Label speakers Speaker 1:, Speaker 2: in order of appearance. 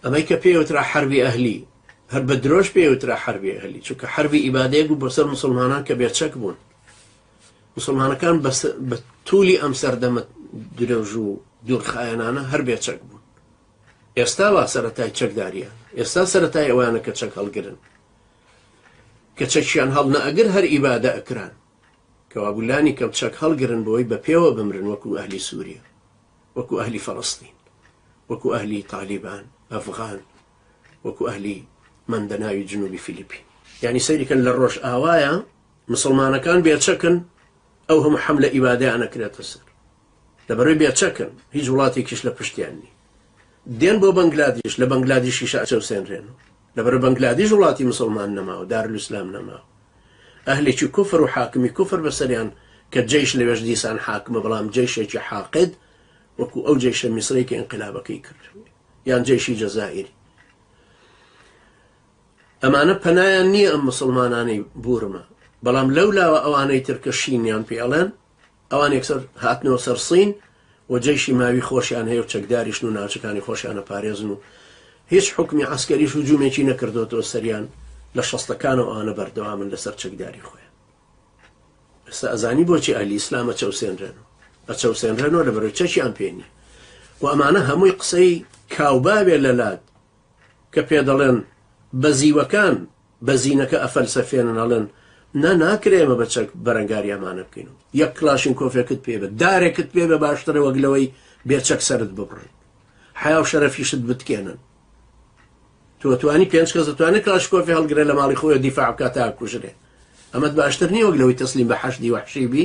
Speaker 1: ئەمەی کە پێی وترا حەربی ئەهلی، هەر بە درۆش پێی وترا حەربی ئەهلی، چونکە حەربی ئیبادەیەک بوو بۆ سەر موسڵمانان کە بێ چەک بوون. موسڵمانەکان بە توولی ئەم سەردەمە درێژ و دوورخایەنانە هەر بێ چەک بوون. ئێستا وا سەرەتای چەکداریان، ئێستا سەرەتای ئەوانە کە چەک هەڵگرن، کە چەکیان هەڵ نەئەگر هەر ئیبادە ئەکران، کەوابوو لانی کەم چەک هەڵگرن بۆی بە پێوە بمرن وەکوو ئەهلی سووریە. وەکو ئەهلی فەلەستین وەکو ئەهلی تالیبان ئەفغان وەکو ئەهلی مەندەناوی جنوبی فیلیپین یانی سەیریکەن لە ڕۆژئاوایە مسلمانەکان بێچەکن ئەو هەموو حەملە ئیبادەیانە کرێتە سەر لەبەرەوەی بێچەکن هیچ وڵاتێکیش لە پشتیان نی دێن بۆ بەنگلادیش لە بەنگلادیشیش ئەچەوسێنرێن و لەبەرە بەنگلادیش وڵاتی مسوڵمان نەما و دارلسلام نەما و ئەهلێکی کوفر و حاکمی کوفر بەسەریان کە جەیش لەوێش دیسان حاکمە بەڵام جەیشێکی حاقد وەکو ئەو جەیشە میسرەی کە ئینقلابەکەی کرد یان جەیشی جەزائیری ئەمانە پەنایان نییە ئەم مسلمانانی بورمە بەڵام لەو لاوە ئەوانەی ترکە شینیان پێڵێن ئەوان یەکسەر هاتنەوە سەر سین و جەیشی ماوی خۆشیان هەیە و چەکداریشن و ناوچەکانی خۆشیان ئەپارێزن و هیچ حوکمی عەسکەریش هجوومێکی نەکردۆتەوە سەریان لە شەستەکانەوە ئەوانە بەردەوامن لەسەر چەکداری خۆیان ئێستا ئەزانی بۆچی ئەهلی ئیسلام ئەچەوسێنرێن و ئەچەوسێنرێنەوە لە بەرەوەی چەکیان پێ نییە و ئەمانە هەمووی قسەی کاوباوێ لەلات کە پێ دەڵێن بەزیوەکان بە زینەکە ئەفەلسەفێنن ئەڵێن نا ناکرێ ئێمە بە چەک بەرەنگاری ئەمانە بکەین و یەک کلاشینکۆفێکت پێ بە دارێکت پێ بە باشترە وەک لەوەی بێ چەک سەرت ببڕن حیا و شەرەفیشت بتکێنن تۆ توانی پێنج کەس دەتوانێ کلاشکۆفی هەڵگرێ لە ماڵی خۆی دیفاع بکات تا کوژرێ ئەمەد باشتر نییە وەک لەوەی تەسلیم بە حەشدی وەحشی بی